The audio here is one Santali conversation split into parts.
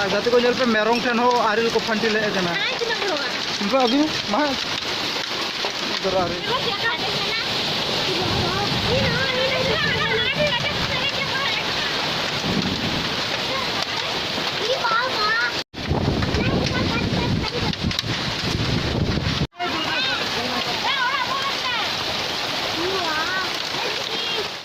ᱟᱨ ᱜᱟᱛᱮ ᱠᱚ ᱧᱮᱞ ᱯᱮ ᱢᱮᱨᱚᱢ ᱴᱷᱮᱱ ᱦᱚᱸ ᱟᱨᱮᱞ ᱠᱚ ᱯᱷᱟᱱᱴᱤ ᱞᱮᱫ ᱠᱟᱱᱟ ᱩᱱᱠᱩ ᱟᱹᱵᱤ ᱢᱟ ᱫᱚᱨᱟ ᱟᱨᱮᱞ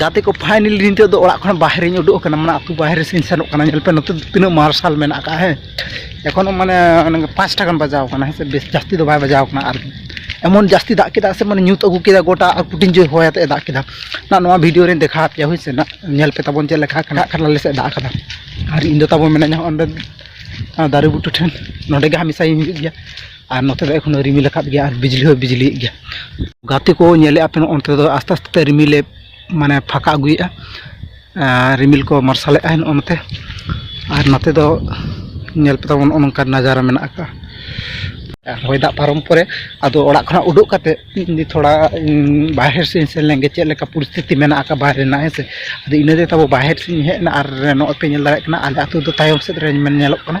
ᱜᱟᱛᱮ ᱠᱚ ᱯᱷᱟᱭᱱᱮᱞ ᱱᱤᱛᱚᱜ ᱫᱚ ᱚᱲᱟᱜ ᱠᱷᱚᱱ ᱵᱟᱦᱨᱮᱧ ᱩᱰᱩᱠ ᱟᱠᱟᱱᱟ ᱢᱟᱱᱮ ᱟᱛᱳ ᱵᱟᱦᱨᱮ ᱥᱮᱫ ᱤᱧ ᱥᱮᱱᱚᱜ ᱠᱟᱱᱟ ᱧᱮᱞ ᱯᱮ ᱱᱚᱛᱮ ᱫᱚ ᱛᱤᱱᱟᱹᱜ ᱢᱟᱨᱥᱟᱞ ᱢᱮᱱᱟᱜ ᱟᱠᱟᱫᱼᱟ ᱦᱮᱸ ᱮᱠᱷᱚᱱᱚ ᱢᱟᱱᱮ ᱯᱟᱸᱪᱴᱟ ᱜᱟᱱ ᱵᱟᱡᱟᱣ ᱟᱠᱟᱱᱟ ᱦᱮᱸ ᱥᱮ ᱵᱮᱥ ᱡᱟᱹᱥᱛᱤ ᱫᱚ ᱵᱟᱭ ᱵᱟᱡᱟᱣ ᱟᱠᱟᱱᱟ ᱟᱨ ᱮᱢᱚᱱ ᱡᱟᱹᱥᱛᱤ ᱫᱟᱜ ᱠᱮᱫᱟ ᱥᱮ ᱢᱟᱱᱮ ᱧᱩᱛ ᱟᱹᱜᱩ ᱠᱮᱫᱟ ᱜᱚᱴᱟ ᱟᱨ ᱠᱩᱴᱤᱧ ᱡᱳᱨ ᱦᱚᱭ ᱟᱛᱮᱫ ᱮ ᱫᱟᱜ ᱠᱮᱫᱟ ᱱᱟᱜ ᱱᱚᱣᱟ ᱵᱷᱤᱰᱤᱭᱳ ᱨᱮᱧ ᱫᱮᱠᱷᱟᱣ ᱟᱯᱮᱭᱟ ᱦᱳᱭ ᱥᱮ ᱱᱟᱜ ᱧᱮᱞ ᱯᱮ ᱛᱟᱵᱚᱱ ᱪᱮᱫ ᱞᱮᱠᱟ ᱠᱟᱱᱟ ᱠᱷᱟᱱ ᱟᱞᱮ ᱥᱮᱫ ᱫᱟᱜ ᱟᱠᱟᱫᱟ ᱟᱨ ᱤᱧ ᱫᱚ ᱛᱟᱵᱚᱱ ᱢᱮᱱᱟᱹᱧᱟ ᱚᱸᱰᱮ ᱫᱟᱨᱮ ᱵᱩᱴᱟᱹ ᱴᱷᱮᱱ ᱱᱚᱰᱮ ᱜᱮ ᱦᱟᱢᱮᱥᱟᱧ ᱦᱤᱡᱩᱜ ᱜᱮᱭᱟ ᱟᱨ ᱱᱚᱛᱮ ᱫᱚ ᱮᱠᱷᱚᱱ ᱨᱤᱢᱤᱞ ᱟᱠᱟᱫ ᱜᱮᱭᱟ ᱟᱨ ᱵᱤᱡᱽᱞᱤ ᱦᱚᱸ ᱵᱤᱡᱽᱞᱤᱭᱮᱫ ᱜᱮᱭᱟ ᱜᱟᱛᱮ ᱠᱚ ᱧᱮᱞᱮᱫᱼᱟ ᱯᱮ ᱱᱚᱜᱼᱚ ᱱᱚᱛᱮ ᱫᱚ ᱟᱥᱛᱮ ᱟᱥᱛᱮ ᱛᱮ ᱨᱤᱢᱤᱞᱮ ᱢᱟᱱᱮ ᱯᱷᱟᱸᱠᱟ ᱟᱹᱜᱩᱭᱮᱫᱼᱟ ᱨᱤᱢᱤᱞ ᱠᱚ ᱢᱟᱨᱥᱟᱞᱮᱫᱼᱟ ᱱᱚᱜᱼᱚ ᱱᱚᱛᱮ ᱟᱨ ᱱᱚᱛᱮ ᱫᱚ ᱧᱮᱞ ᱯᱮ ᱛᱟᱵᱚᱱ ᱱᱚᱜᱼᱚ ᱱᱚᱝᱠᱟᱱ ᱱᱟᱡᱟᱨᱟ ᱢᱮᱱᱟᱜ ᱟᱠᱟᱫᱼᱟ ᱟᱨ ᱦᱚᱭ ᱫᱟᱜ ᱯᱟᱨᱚᱢ ᱯᱚᱨᱮ ᱟᱫᱚ ᱚᱲᱟᱜ ᱠᱷᱚᱱᱟᱜ ᱩᱰᱩᱠ ᱠᱟᱛᱮ ᱤᱧ ᱛᱷᱚᱲᱟ ᱵᱟᱦᱮᱨ ᱥᱮᱫ ᱤᱧ ᱥᱮᱱ ᱞᱮᱱᱜᱮ ᱪᱮᱫ ᱞᱮᱠᱟ ᱯᱚᱨᱤᱥᱛᱷᱤᱛᱤ ᱢᱮᱱᱟᱜ ᱟᱠᱟᱫ ᱵᱟᱦᱨᱮ ᱨᱮᱱᱟᱜ ᱦᱮᱸ ᱥᱮ ᱟᱫᱚ ᱤᱱᱟᱹᱛᱮ ᱛᱟᱵᱚ ᱵᱟᱦᱮᱨ ᱥᱮᱫ ᱤᱧ ᱦᱮᱡ ᱮᱱᱟ ᱟᱨ ᱱᱚᱜᱼᱚᱭ ᱯᱮ ᱧᱮᱞ ᱫᱟᱲᱮᱭᱟᱜ ᱠᱟᱱᱟ ᱟᱞᱮ ᱟᱹᱛᱩ ᱫᱚ ᱛᱟᱭᱚᱢ ᱥᱮᱫ ᱨᱮ ᱧᱮᱞᱚᱜ ᱠᱟᱱᱟ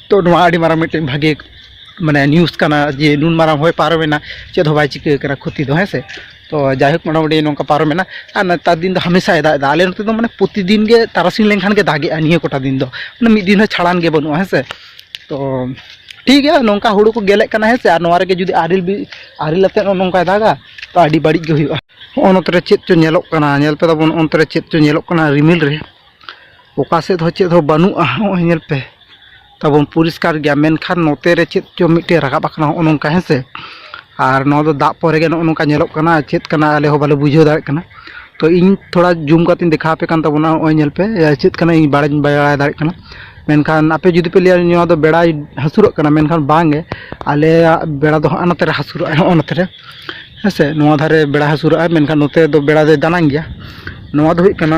ᱛᱚ ᱱᱚᱣᱟ ᱟᱹᱰᱤ ᱢᱟᱨᱟᱝ ᱢᱤᱫᱴᱮᱱ ᱵᱷᱟᱜᱮ ᱢᱟᱱᱮ ᱱᱤᱭᱩᱡᱽ ᱠᱟᱱᱟ ᱡᱮ ᱱᱩᱱ ᱢᱟᱨᱟᱝ ᱦᱚᱭ ᱯᱟᱨᱚᱢᱮᱱᱟ ᱪᱮᱫ ᱦᱚᱸ ᱵᱟᱭ ᱪᱤᱠᱟᱹ ᱠᱟᱱᱟ ᱠᱷᱚᱛᱤ ᱫᱚ ᱦᱮᱸ ᱥᱮ ᱛᱚ ᱡᱟᱭᱦᱳᱠ ᱢᱚᱴᱟᱢᱩᱴᱤ ᱱᱚᱝᱠᱟ ᱯᱟᱨᱚᱢᱮᱱᱟ ᱟᱨ ᱱᱮᱛᱟᱨ ᱫᱤᱱ ᱫᱚ ᱦᱟᱢᱮᱥᱟᱭ ᱫᱟᱜ ᱮᱫᱟ ᱟᱞᱮ ᱱᱚᱛᱮ ᱫᱚ ᱢᱟᱱᱮ ᱯᱨᱚᱛᱤᱫᱤᱱ ᱜᱮ ᱛᱟᱨᱟᱥᱤᱧ ᱞᱮᱱᱠᱷᱟᱱ ᱜᱮ ᱫᱟᱜᱮᱜᱼᱟ ᱱᱤᱭᱟᱹ ᱠᱚᱴᱟ ᱫᱤᱱ ᱫᱚ ᱢᱟᱱᱮ ᱢᱤᱫ ᱫᱤᱱ ᱦᱚᱸ ᱪᱷᱟᱲᱟᱱ ᱜᱮ ᱵᱟᱹᱱᱩᱜᱼᱟ ᱦᱮᱸ ᱥᱮ ᱛᱚ ᱴᱷᱤᱠ ᱜᱮᱭᱟ ᱱᱚᱝᱠᱟ ᱦᱩᱲᱩ ᱠᱚ ᱜᱮᱞᱮᱜ ᱠᱟᱱᱟ ᱦᱮᱸ ᱥᱮ ᱟᱨ ᱱᱚᱣᱟ ᱨᱮᱜᱮ ᱡᱩᱫᱤ ᱟᱨᱮᱞ ᱵᱤ ᱟᱨᱮᱞ ᱟᱛᱮᱫ ᱦᱚᱸ ᱱᱚᱝᱠᱟᱭ ᱫᱟᱜᱟ ᱛᱚ ᱟᱹᱰᱤ ᱵᱟᱹᱲᱤᱡ ᱜᱮ ᱦᱩᱭᱩᱜᱼᱟ ᱦᱚᱸᱜᱼᱚ ᱱᱚᱛᱮ ᱨᱮ ᱪᱮᱫ ᱪᱚ ᱧᱮᱞᱚᱜ ᱠᱟᱱᱟ ᱧᱮᱞ ᱯᱮ ᱛᱟᱵᱚᱱ ᱚᱱᱛᱮ ᱨᱮ ᱪᱮᱫ ᱪᱚ ᱧᱮᱞᱚᱜ ᱠᱟᱱᱟ ᱨᱤᱢᱤᱞ ᱨᱮ ᱚᱠᱟ ᱥᱮᱫ ᱦᱚᱸ ᱪᱮᱫ ᱦᱚᱸ ᱵᱟᱹᱱᱩᱜᱼᱟ ᱱᱚᱜᱼᱚᱭ ᱧᱮᱞ ᱯᱮ ᱛᱟᱵᱚᱱ ᱯᱚᱨᱤᱥᱠᱟᱨ ᱜᱮᱭᱟ ᱢᱮᱱᱠᱷᱟᱱ ᱱᱚᱛᱮ ᱨᱮ ᱪᱮᱫ ᱪᱚᱝ ᱢᱤᱫᱴᱮᱱ ᱨᱟᱠᱟᱵ ᱟᱠᱟᱱᱟ ᱱᱚᱜᱼᱚ ᱱᱚᱝᱠᱟ ᱦᱮᱸ ᱥᱮ ᱟᱨ ᱱᱚᱣᱟ ᱫᱚ ᱫᱟᱜ ᱯᱚᱨᱮ ᱜᱮ ᱱᱚᱜᱼᱚ ᱱᱚᱝᱠᱟ ᱧᱮᱞᱚᱜ ᱠᱟᱱᱟ ᱪᱮᱫ ᱠᱟᱱᱟ ᱟᱞᱮ ᱦᱚᱸ ᱵᱟᱞᱮ ᱵᱩᱡᱷᱟᱹᱣ ᱫᱟᱲᱮᱭᱟᱜ ᱠᱟᱱᱟ ᱛᱚ ᱤᱧ ᱛᱷᱚᱲᱟ ᱡᱩᱢ ᱠᱟᱛᱮᱧ ᱫᱮᱠᱷᱟᱣ ᱟᱯᱮ ᱠᱟᱱ ᱛᱟᱵᱚᱱᱟ ᱱᱚᱜᱼᱚᱭ ᱧᱮᱞ ᱯᱮ ᱪᱮᱫ ᱠᱟᱱᱟ ᱤᱧ ᱵᱟᱲᱟᱭ ᱵᱟᱹᱧ ᱵᱟᱲᱟᱭ ᱫᱟᱲᱮᱭᱟᱜ ᱠᱟᱱᱟ ᱢᱮᱱᱠᱷᱟᱱ ᱟᱯᱮ ᱡᱩᱫᱤ ᱯᱮ ᱞᱟᱹᱭᱟ ᱱᱚᱣᱟ ᱫᱚ ᱵᱮᱲᱟᱭ ᱦᱟᱹᱥᱩᱨᱚᱜ ᱠᱟᱱᱟ ᱢᱮᱱᱠᱷᱟᱱ ᱵᱟᱝ ᱜᱮ ᱟᱞᱮᱭᱟᱜ ᱵᱮᱲᱟ ᱫᱚ ᱦᱟᱸᱜ ᱱᱚᱛᱮ ᱨᱮ ᱦᱟᱹᱥᱩᱨᱚᱜᱼᱟᱭ ᱱᱚᱜᱼᱚ ᱱᱚᱛᱮ ᱨᱮ ᱦᱮᱸ ᱥᱮ ᱱᱚᱣᱟ ᱫᱷᱟᱨᱮ ᱵᱮᱲᱟᱭ ᱦᱟᱹᱥᱩᱨᱚᱜᱼᱟᱭ ᱢᱮᱱᱠᱷᱟᱱ ᱱᱚᱛᱮ ᱫᱚ ᱵᱮᱲᱟ ᱫᱚᱭ ᱫᱟᱱᱟᱝ ᱜᱮᱭᱟ ᱱᱚᱣᱟ ᱫᱚ ᱦᱩᱭᱩᱜ ᱠᱟᱱᱟ